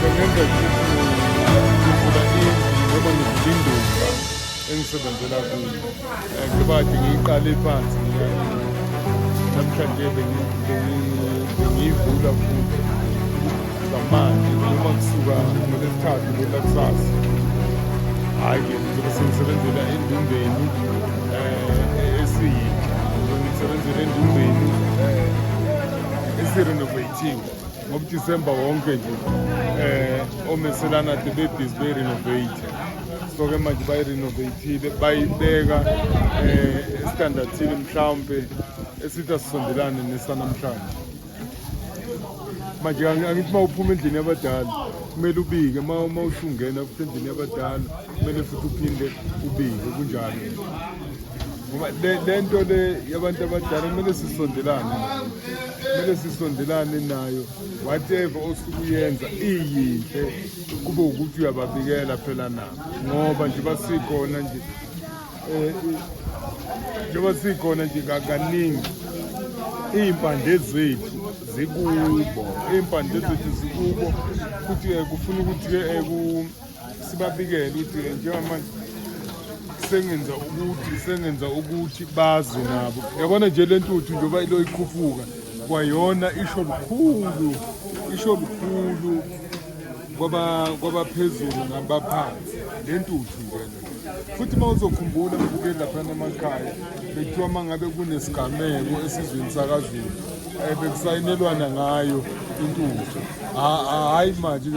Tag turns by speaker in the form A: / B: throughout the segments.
A: bengenza ngivula indlu noma ngivula indumba engisebenzela kuyo eh, ngibade ngiyiqale phansi namhlanje bengiyivula futhi zamanje noma kusuka ngolesithathu ngela kusasa hhayi-ke ngizobe sengisebenzela endumbeni um esiyini ngisebenzela endumbeni um eh, esirenovative ngoba December wonke nje eh omeselana the babies be renovate so ke manje bayi renovatile bayibeka eh standardini mhlawumbe esithi asisondelane nesanamhlanje manje angithi uma uphuma endlini yabadala kumele ubike uma uma usungena endlini yabadala kumele futhi uphinde ubike kunjalo ngoba le nto le yabantu abadala kumele sisondelane kumele sisondelane nayo whatever osuke uyenza iyinhle kube ukuthi uyababikela phela nabo ngoba nje basikhona nje eh, njengoba sikhona nje kaningi iy'mpande zethu zikubo iy'mpande zethu zikubo futhi eh, kufuna ukuthi-ke eh, sibabikele ukuthi njengamanje sengenza ukuthi sengenza ukuthi bazi nabo yabona nje le ntuthu njengoba ilo ikhuphuka kwayona isho lukhulu isho lukhulu kwabaphezulu nabaphansi le ntuthu njena futhi uma uzokhumbula mbukeli laphana emakhaya bekuthiwa uma ngabe kunesigameko esizweni sakazulu um eh, bekusayinelwana ngayo intuthu hhayi manje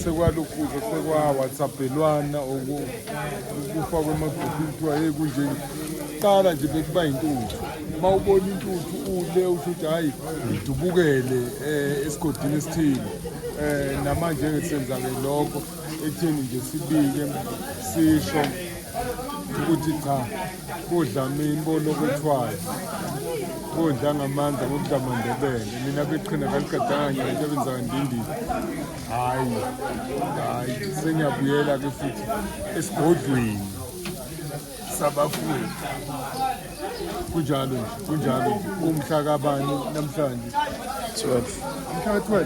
A: sekwalokhuza sekwawhatsaphelwana kufakwe emagruphini kuthiwa yeyi kunje kuqala nje bekuba yintuthu uma ubona intuthu ule usho ukuthi hhayi ngidubukele um eh, esigodini esithile um namanje-ke senzake lokho ekutheni nje sibike sisho ukuthi cha kodlamini bolokothiwayo kodla ngamandla ngokudlamandebele mina beqhina kaligadanga into ebenzaka ndindini hhayi hhayi sengiyabuyela-ke futhi esigodlweni sabafundi kunjalo nje kunjalo nje umhla kabani namhlanje 12 umhla ka-12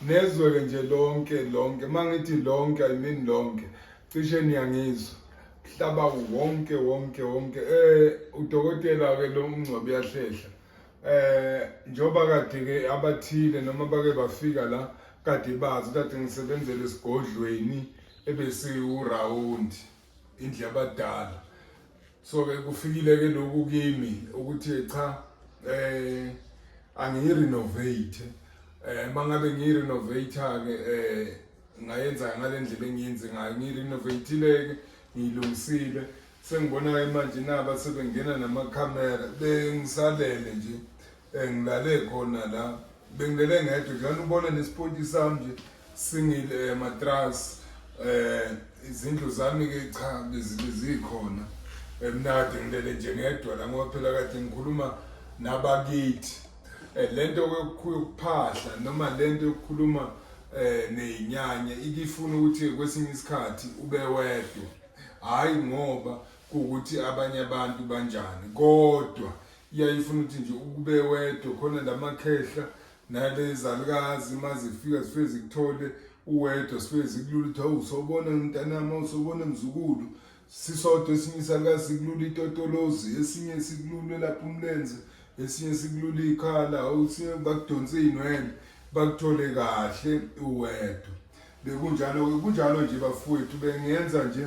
A: Nezwe-ke nje lonke lonke, uma ngithi lonke I mean lonke, cishe niyangizwa mhlaba wonke wonke wonke. Eh udokotela-ke lo uMngcwabi uyahlehla eh njengoba kade-ke abathile noma bake bafika la kade bazi kade ngisebenzele esigodlweni ebesiwurawundi indlu yabadala so ke kufikile ke lokhu kimi ukuthi cha eh angiyirenovate eh mangabe ngiyirenovate ke eh ngayenza ngalendlela engiyenze ngayo ngirenovatile ke ngilungisile sengibona ke manje naba sebengena namakhamera bengisalele nje Eh, ngilale khona la bengilele ngedwa njani ubona nesipoti sami nje singile eh, matras eh izindlu zami ke cha bezikhona emnadi ngilele nje ngedwa la ngoba phela kade ngikhuluma nabakithi eh, lento yokuphahla noma lento yokukhuluma eh nezinyanya ikifuna ukuthi kwesinye isikhathi ube wedwa hayi ngoba ukuthi abanye abantu banjani kodwa iyayifuna ukuthi nje ukube wedwa khona lamakhehla nalezalukazi uma zifika zifike zikuthole uwedwa sifike zikulula ukuthi hawu sobona mntanami awusobona mzukulu sisodwa esinye isalukazi sikulula itotolozi esinye sikulule lapho umlenze esinye sikulula ikhala awusinye bakudonse iy'nwele bakuthole kahle uwedwa bekunjalo-ke kunjalo nje bafowethu bengenza nje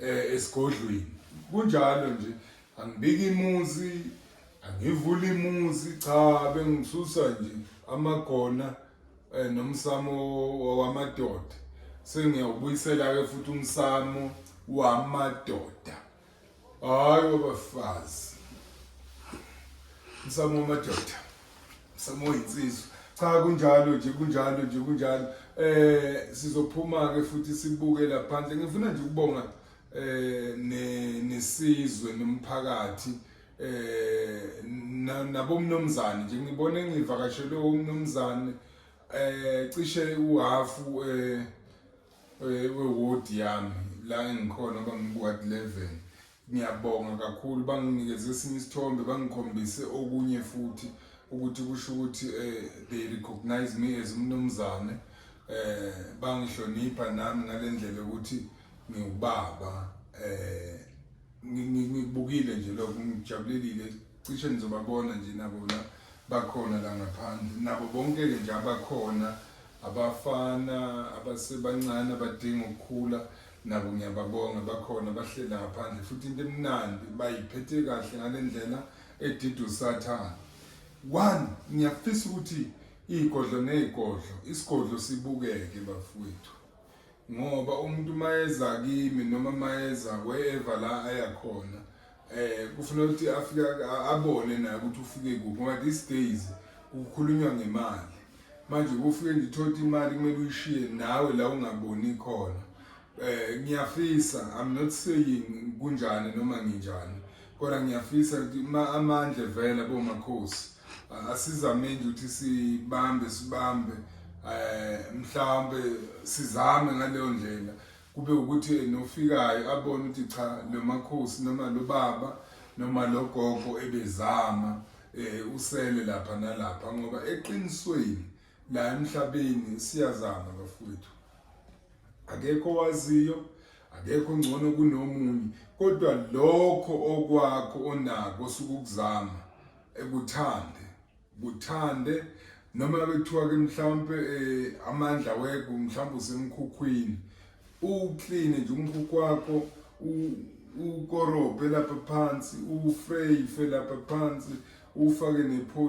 A: eh esigodlweni kunjalo nje angibiki imuzi angivuli imuzi cha bengisusa nje amagona eh nomsamo wamadoda sengiyawubuyisela ke futhi umsamo wamadoda hayi wabafazi umsamo wamadoda msamo yinsizwa cha kunjalo nje kunjalo nje kunjalo eh sizophuma ke futhi sibuke laphandle ngifuna nje ukubonga eh nesizwe nomphakathi eh nabomnomzane nje ngibone ngivakashele umnomzane eh cishe uhafu eh, eh weward yami la engikhona bangibuka 11 Ngiyabonga kakhulu banginikeze esinye isithombe bangikhombise okunye futhi ukuthi kusho ukuthi eh, they recognize me as umnumzane eh bangihlonipha nami ngalendlela ukuthi ngiwubaba eh ngibukile nje lokho ngijabulelile cishe nizobabona nje nabo la bakhona la ngaphandle nabo bonke ke nje abakhona abafana abasebancane abadinga ukukhula Nabo ngiyababonga bakhona bahlela ngaphandle futhi into emnandi bayiphethe kahle ngalendlela edida usathana. One ngiyafisa ukuthi igodlo negodlo isigodlo sibukeke bafowethu. Ngoba umuntu mayeza kimi noma mayeza wherever la ayakhona Eh kufuna ukuthi afike abone naye ukuthi ufike kuphi ngoba these days kukhulunywa ngemali. Manje kufike ngithothi imali kumele uyishiye nawe la ungaboni khona. Eh ngiyafisa I'm not saying kunjani noma nginjani. Kodwa ngiyafisa ukuthi amandla vele bomakhosi asizameni ukuthi sibambe sibambe eh mhlawumbe sizame ngaleyo ndlela kube ukuthi yena ofikayo abone ukuthi cha lo makhosi noma lo baba noma lo gogo ebezama um usele lapha nalapha ngoba eqinisweni la emhlabeni siyazama bafowethu akekho owaziyo akekho ngcono kunomunye kodwa lokho okwakho onako sukuzama ekuthande kuthande noma bethiwa ke mhlawumbe eh, amandla wego mhlawumbe usemkhukhwini uclean nje umkhukhu wakho ukorobhe lapha phansi ufreyife lapha phansi ufake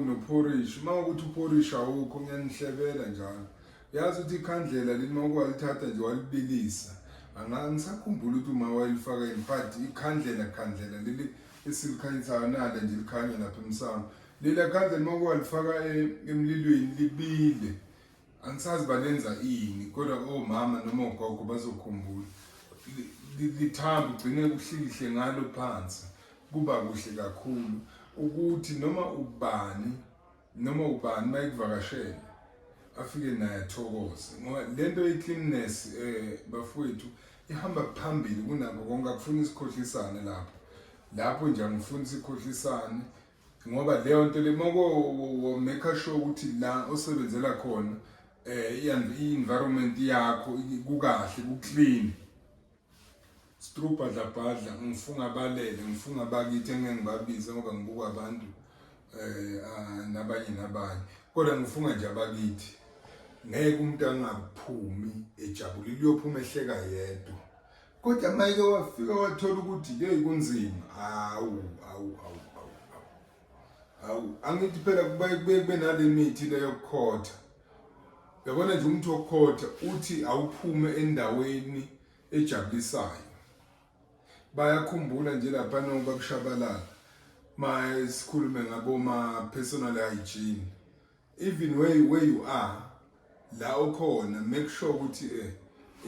A: nophorishi uma ukuthi uphorishi awukho ngiyanihlebela njalo yazi ukuthi ikhandlela leli uma ukwalithatha nje walibilisa angisakhumbula ukuthi uma wayelifaka yini but ikhandlela khandlela leli esilikhanyisayo nale nje likhanya lapha emsamo Lela khanda limaku walifaka e- emlilweni libile. Angisazi balenza ini kodwa omama noma ogogo bazokhumbula. Li- li- Lithamba ugcine kuhlikihle ngalo phansi. Kuba kuhle kakhulu ukuthi noma ubani noma ubani mayikuvakashela afike naye athokoze ngoba lento ye-cleanness eh bafowethu ihamba phambili kunakho konke akufuni isikhohlisane lapho lapho nje angifuni sikhohlisane ngoba leyo nto le moko make sure ukuthi la osebenzela khona eh i-environment yakho kukahle kuclean strubhadla bhadla ngifunga balele ngifunga bakithi engeke ngibabize ngoba ngibuka abantu eh ah, nabanye nabanye kodwa ngifunga nje abakithi ngeke umuntu angaphumi ejabulile uyophuma ehleka yedwa Kodwa mayeke wafika wathola ukuthi hey kunzima. Hawu, hawu, hawu, hawu. Hawu, angithi phela kubaye kube kube nale mithi le yokukhotha. Yabona nje umuntu wokukhotha uthi awuphume endaweni ejabulisayo. Bayakhumbula nje lapha noba kushabalala. Maye sikhulume ngabo ma personal hygiene. even where you, where you are la okhona make sure ukuthi eh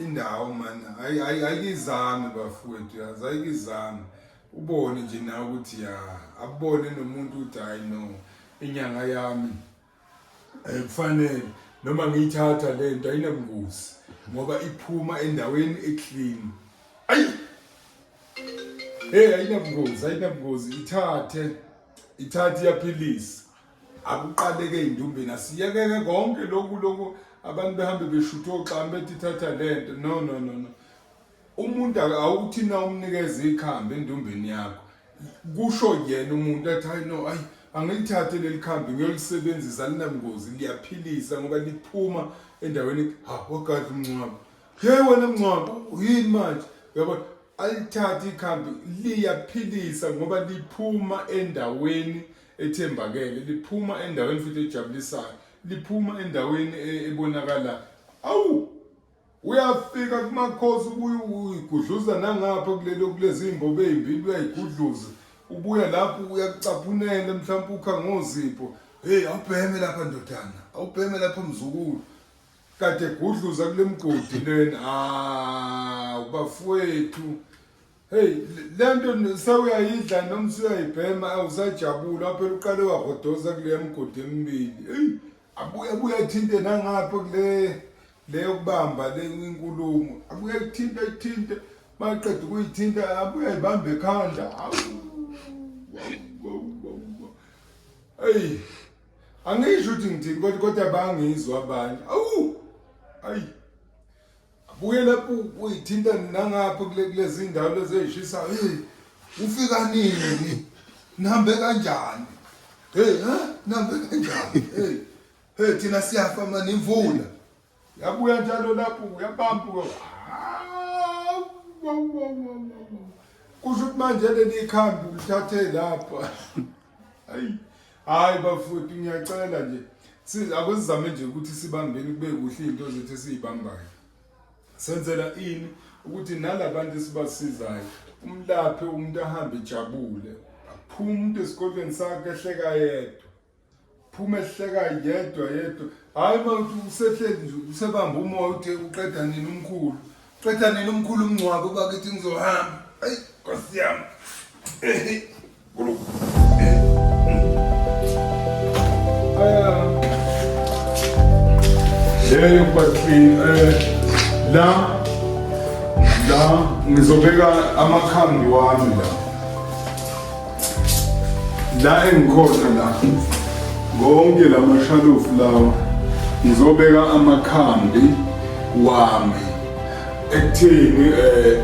A: indawo man ayikizami bafowethu yazi ayikizami ubone nje na ukuthi ya abone nomuntu ukuthi hayi no inyanga yami ayikufanele noma ngiyithatha le nto ayinabungozi ngoba iphuma endaweni eclean ayi hey ayinabungozi ayinabungozi ithathe ithathe iyaphilisa akuqaleke indumbeni asiyekeke konke lokhu lokhu abantu behambe beshutha oxami bethi thatha lento no no no no umuntu awuthi na umnikeza ikhambi endumbeni yakho kusho yena umuntu athi hayi no ayi angilithathe leli khambi ngiyolisebenzisa linangozi liyaphilisa ngoba liphuma endaweni ha wagadla umncwabo he wena mncwabo yini manje uyabona alithathe ikhambi liyaphilisa ngoba liphuma endaweni ethembakele liphuma endaweni futhi ejabulisayo liphuma endaweni e- ebonakala awu uyafika kumakhosi ubuye uyigudluza nangapha kulelo kulezi imbobo ezimbili uyayigudluza ubuya lapho uyakucaphunela mhlawumbe ukha ngozipho hey awubheme lapha ndodana awubheme lapha mzukulu kade gudluza kulemgodi lena ah ubafowethu Hey lento sewuyayidla noma usuyayibhema awusajabula phela uqale wagodoza kule mgodi emibili. Hey abuye abuye athinte nangapha kule leyo kubamba le inkulumo. Abuye athinte athinte maqeda ukuyithinta abuye ayibambe ekhanda. Hey angisho ukuthi ngithini kodwa kodwa bangizwa abanye. Awu. Ayi. Abuye lapho uyithinta nangapha kulezi ndawo lezi ezishisayo. Hey, ufika nini? Nihambe kanjani? Hey, ha? Nihambe kanjani? Hey. Hey, thina siyafa manje imvula. Yabuya njalo lapho uyabamba ko. Kusho ukuthi manje leli ikhambi ulithathe lapha. Hayi. hayi bafowethu ngiyacela nje si- akusizame nje ukuthi sibambeni kube kuhle izinto zethu esiyibambayo senzela ini ukuthi nalabantu esibasizayo umlaphe umuntu ahambe ejabule aphume umuntu esikolweni sakhe ehleka yedwa phuma ehleka yedwa yedwa hayi mawuthi usehleli nje usebamba umoya uthe uqeda nini umkhulu Qeda nini umkhulu umngcwabo bakithi ngizohamba. Ayi Nkosi yami. Eh. Hey bathini eh la la ngizobeka amakhambi wami la. la engikhona la konke la mashalofu lawa ngizobeka amakhambi wami ekutheni eh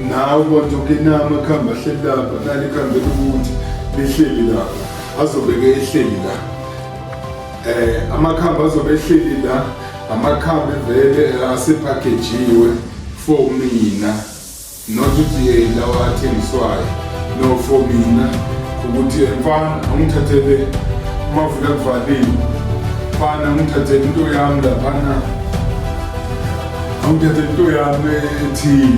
A: nawe kodwa ukinama amakhambi ahleli lapha nali ikhambi lokuthi lihleli lapha azobeke ehleli la eh amakhambi azobe ehleli la amakhambi vele asephakhejiwe for mina Not ukuthi eh, lawa athengiswayo no for mina ukuthi eh, mfana angithathele umavula kuvalile mfana angithathele into yami laphana angithathele into yami ethile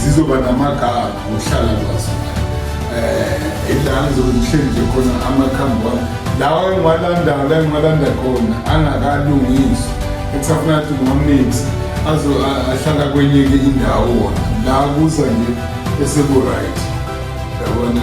A: zizoba namagama ngokuhlala kwazo um ilanga zokuhleli nje khona amakhambi wami lawa engiwalanda la engiwalanda khona angakalungiswa Kusafuna ukuthi uMaminx azo ahlala kwenye ke indawo wona la kuza nje eseku right yabona